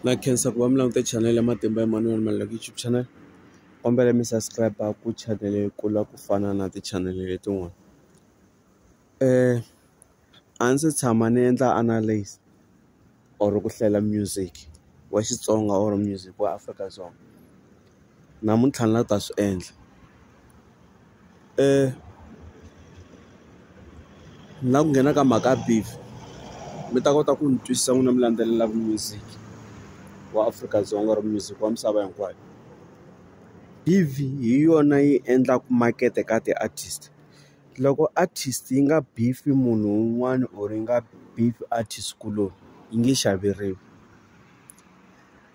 na khensa ku va mi langute chanel ya matimba Emmanuel Maluleke YouTube channel kombela mi subscribe ku chanel yi kula ku fana na ti-channel letin'wana a ndzi se tshama ni endla analyse or ku hlayela music wa Xitsonga or music wa Afrika-Dzonga. namuntlha ni la ku ta swi endla ni la ku nghena ka mhaka ya beef mi ta kota ku ni twisisa n'wina mi landzelelaku music wa Afrika-Dzonga or music wa misava hinkwayo beef hi yona yi endlaku makete ka ti-artist loko artist yi nga beef munhu un'wana or yi nga beef artist kuloni yi nge xaveriwi.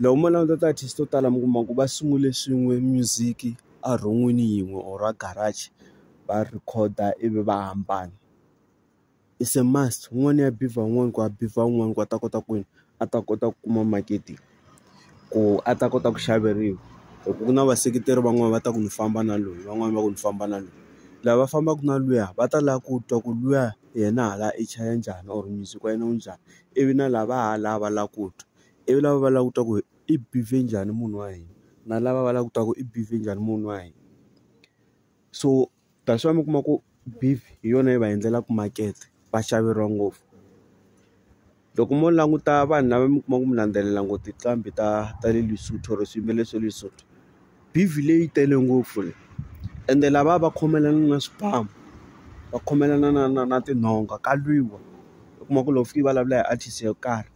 Loko mo languta ti-artist to tala mi kuma ku va sungule swin'we music a rhon'wini yin'we or a garage va rhikhoda ivi va hambana it's a must un'wana ya bivha un'wana ku ya bivha un'wana ku a ta kota ku yini a ta kota ku kuma makete ku a ta kota ku xaveriwa hi ku na vaseketeri van'wani va ta ku ni famba na loyi van'wani va ku ni famba na loyi lava fambaka na luya va ta lava ku twa ku luya yena hala i chaya njhani or music wa yena wu njhani. ivi na lava ha la va la ku twa ivi lava va la ku twa ku i behave njhani munhu wa hina na lava va la ku twa ku i behave njhani munhu wa hina so that's why mi kuma ku beef hi yona yi va endlelaka makete va xaveriwa ngopfu loko mo languta vanhu lava mi kuma ku mi landzelela ngopfu tinqambi ta ta le Lesotho or swiyimbeleri swa Lesotho. bivhilei yi tele ngopfu leyi ende lavaya va khomelana na swibamu va khomelana na na na tinhonga ka lwiwa u kuma ku loko u fika u vulavula hi artist yo karhi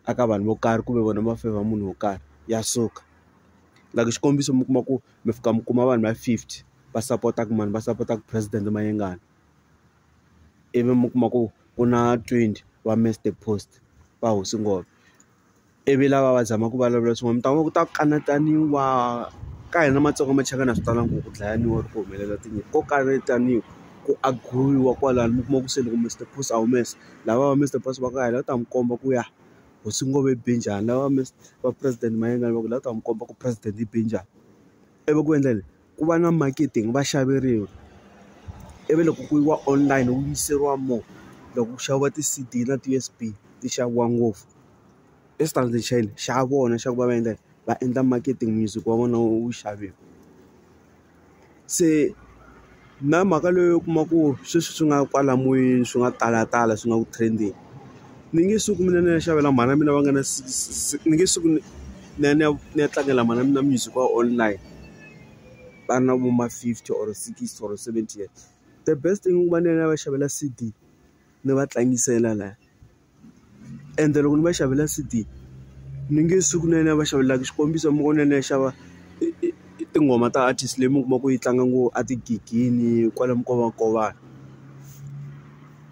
a ka vanhu vo karhi kumbe vona va fevha munhu wo karhi ya suka like xikombiso mi kuma ku mi fika mi kuma vanhu va fifty va sapotaka mani va sapotaka president Mayengani ivi mi kuma ku ku na twenty va Mister Post va hosi ngoma. ivi lava va zama ku vulavula swin'wana mi ta kuma ku ta kanetaniwa ka hina matsonga machangani a swi talanga ku dlayiwa or ku humelela tinyimpi ko kanetaniwa ku agiroyiwa kwalano mi kuma ku se loko Mister Boss a humesa lava va Mister Boss va ku a hi la u ta n'wi komba ku ya hosi Ngome yi be njhani lava va va president Mayengani va ku hi la u ta n'wi komba ku president yi be njhani ivi ku endla yini. ku va na marketing va xaveriwa ivi loko ku yiwa online wu yiseriwa more loko ku xaviwa ti-C_D na ti-U_S_B ti xaviwa ngopfu i xitandi xa yini xa vona xa ku va va endla yini va endla marketing music wa vona wu xaviwa se na mhaka leyi u kuma ku sweswi swi nga kwala moyeni swi nga talatala swi nga ku trend-eni. ni nge suki mina ni ya xavela mhana mina va nga na ni nge suki ni ya ni ya ni ya tlangela mhana mina music wa online va na vo ma fifty or sixty or seventy years the best thing i ku va ni ya ni ya va xavela C_D ni va tlangisela laya ende loko ni va xavela C_D ni nge suki ni ya ni ya va xavela xikombiso mi vona ni ya xava tinghoma ta artist leyi mi kuma ku yi tlanga ngopfu a tigigini kwale minkovakova.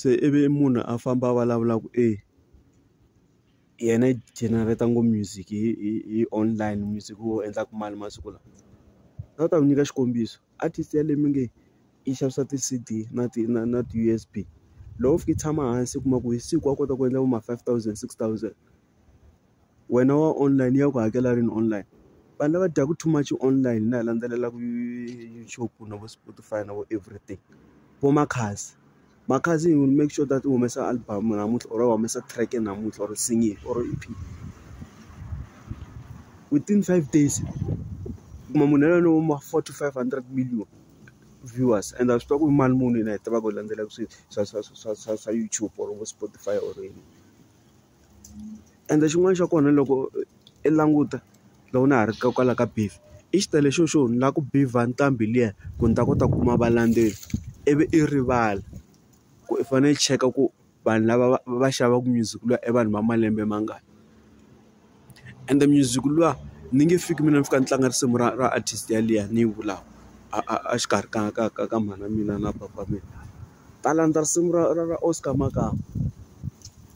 se ivi munhu a famba a vulavula ku e yena i generator ngo music hi hi hi online music wo endlaka mali masiku lawa a ni ta ku nyika xikombiso artist ya leyi mi nge yi xavisa ti-C_D na ti na na ti-U_S_B loko u fika u tshama hansi u kuma ku hi siku wa kota ku endla vo ma five thousand six thousand. wena wa online ya ku hakela rini online vanhu lava dyaku too much online na ha landzelelaku YouTube na vo Spotify na vo everything vo Makhadzi Makhadzi he will make sure that u humesa album namuntlha or u humesa track namuntlha or single or E_P within five days u kuma munhu yaloye wa ma four to five hundred million viewers and a swi tiva ku i mali muni yena hi tivaka hi landzelaka swi swa swa swa swa swa YouTube or vo Spotify or yini. ende xin'wana xa kona loko i languta loko na ha ri ka kwala ka Beef i xitalo xo xo ni lava ku beef-a nqambi liya ku ni ta kota ku kuma valendzeleri ivi i rivala ku i fanele i cheka ku vanhu lava va va xavaka music luya i vanhu va malembe mangani ende music luwa ni nge fiki mina ni fika ni tlanga risimu ra ra artist yaliya ni yi vulaka a a a xikarhi ka ka ka ka mhana mina na papa mina ta landza risimu ra ra ra Oscar Makamu.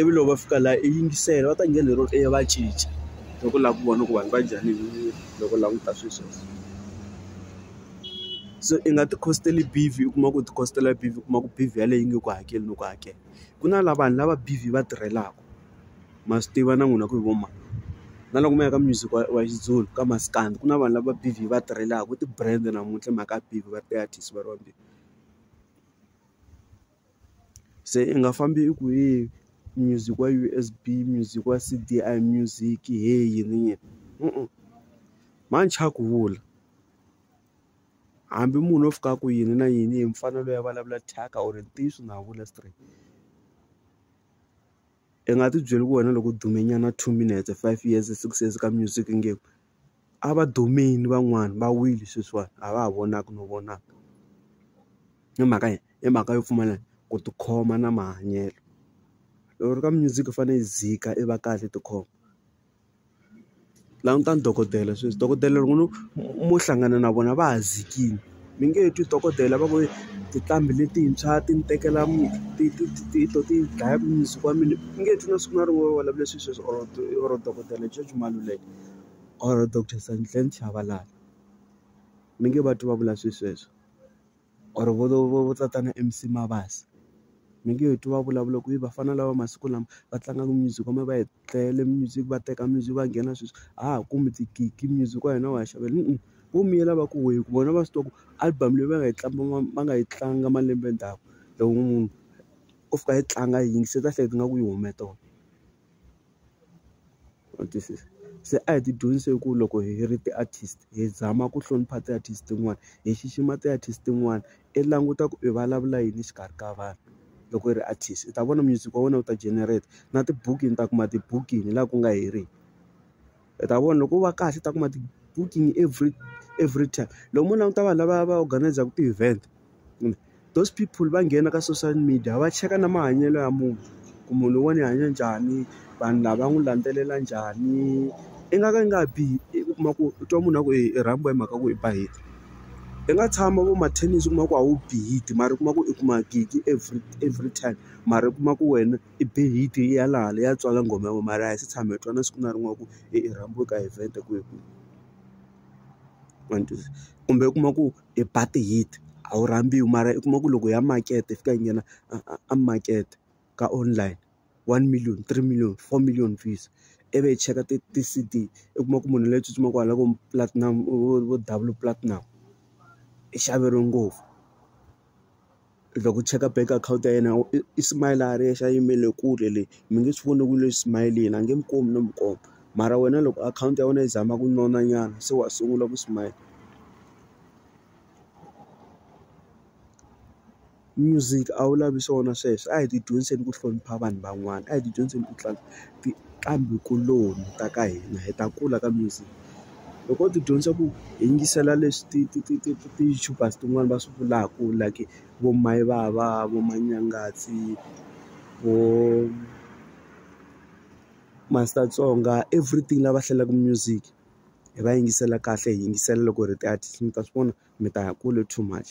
ivi loko va fika la i yingisela va ta nghena hi rona i va cinca loko u lava ku vona ku vanhu va njhani loko u languta swilo sweswo so i nga ti khositeli beef u kuma ku ti khositela beef u kuma ku beef yeleyo yi nge ku hakeli loko u hakela ku na lava vanhu lava beef yi va tirhelaka ma swi tiva na n'wina ku hi vo mani na loko mi ya ka music wa wa Xizulu ka maskandi ku na vanhu lava beef yi va tirhelaka i ti-brand namuntlha hi mhaka ya beef va ri ti-artist va ri vambirhi. Se i nga fambi i ku he music wa U_S_B music wa C_D a hi music he yini yini manjhe a ku vula hambi munhu o fika a ku yini na yini hi mfanelo ya vulavula thyaka or ntiyiso na ha vula straight. I nga ti byeli ku wena loko u dume nyana two minutes five years six years ka music nge a va dumile van'wani va wile sweswiwani a va ha vonaki no vonaka i mhaka yini i mhaka yo pfumala ku tikhoma na mahanyelo loko u ri ka music u fanele u dzika i va kahle tikhoma. languta ni dokodela sweswi dokodela loko no mo hlangana na vona va ha dzikile mi nge twi dokodela va ku tinqambi letintshwa ti ni tekela ti ti ti ti to ti dlaya mundzuku wa mina u nge twi na siku na rin'we va vulavula swilo sweswo or or dokodela George Maluleke or doctor Santlani Tshabalala mi nge va twi va vula swilo sweswo or vo vo vo vo tatana M_C Mabasa mi nge twi va vulavula ku i vafana lava masiku lama va tlangaka music . tlele music va teka music va nghena sweswi a ha ha kumi tigigi music wa hina wa ha xaveriwa vo miyela va ku wehe ku vona va swi tiva ku album leyi va nga yi tlanga va nga yi tlanga malembe ndzhaku loko munhu o fika a yi tlanga a yi yingisela u ta hleketa ingaku yi hume tolo wa twisisa se a hi ti dyondzise ku loko hi ri ti-artist hi zama ku hlonipha ti-artist tin'wana hi xixima ti-artist tin'wana i languta ku i vulavula yini exikarhi ka vanhu loko i ri artist i ta vona music wa wena wu ta generate na tibukingi ni ta kuma tibukingi laha ku nga heriki i ta vona loko u va kahle u ta kuma tibukingi every every time loko mo languta vanhu lava va organise-ku ti-event kumbe those people va nghena ka social media va cheka na mahanyelo ya munhu ku munhu loyiwani i hanya njhani vanhu lava n'wi landzelela njhani i nga ka i nga bihi u kuma ku u twa munhu a ku i rhambiwa hi mhaka ku i ba hit. I nga tshama vo mathekisi u kuma ku a wu bi heat mara u kuma ku i kuma gig every every time mara u kuma ku wena i be heat yi ya laha le ya tswala nghoma ya wena mara a hi se tshama hi twa na siku na rin'we ya ku i rhambiwe ka event kwihi kwihi ma ni twisisa kumbe u kuma ku i ba ti-heat a wu rhambiwa mara u kuma ku loko ya makete yi fika yi nghena a a a makete. ka online one million three million four million views i vi hi cheka ti ti C_D u kuma ku munhu loyi tsutsumaka kwala vo platinum vo double platinum i xaveriwe ngopfu loko u cheka bank account ya yena i smile a ri yexe a yimele kule le mi nge swi voni ku le smiling a nge mi komi no mi komba mara wena loko akhawunti ya wena yi zama ku nona nyana se wa sungula ku smile. Music a wu lavi swona sweswo a hi ti dyondziseni ku hlonipha vanhu van'wana a hi ti dyondziseni ku tlanga tinqambi kuloni ta ka hina hi ta kula ka music loko u ti dyondzisa ku hi yingisela leswi ti ti ti ti ti ti-YouTubers tin'wani va swi vulaka like vo mayivava vo manyangatsi vo master tsonga everything lava hlalelaka music hi va yingisela kahle hi yingisela loko ri ti-artist mi ta swi vona mi ta ya kule too much.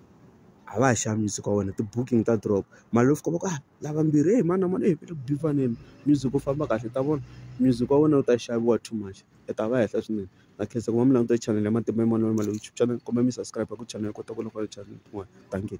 a va ha xavi music wa wena ti-booking ta drop mara loko u fika va ku a lava mbirhi heyi mani na mani eku music wu famba kahle ta vona music wa wena wu ta xaviwa too much u ta va henhla swinene na khensa ku va mi langutile chanel ya Matimba ya Manana Maluleke YouTube channel kumbe mi subscribe ku chanel ku ta vona channel tin'wana dankie.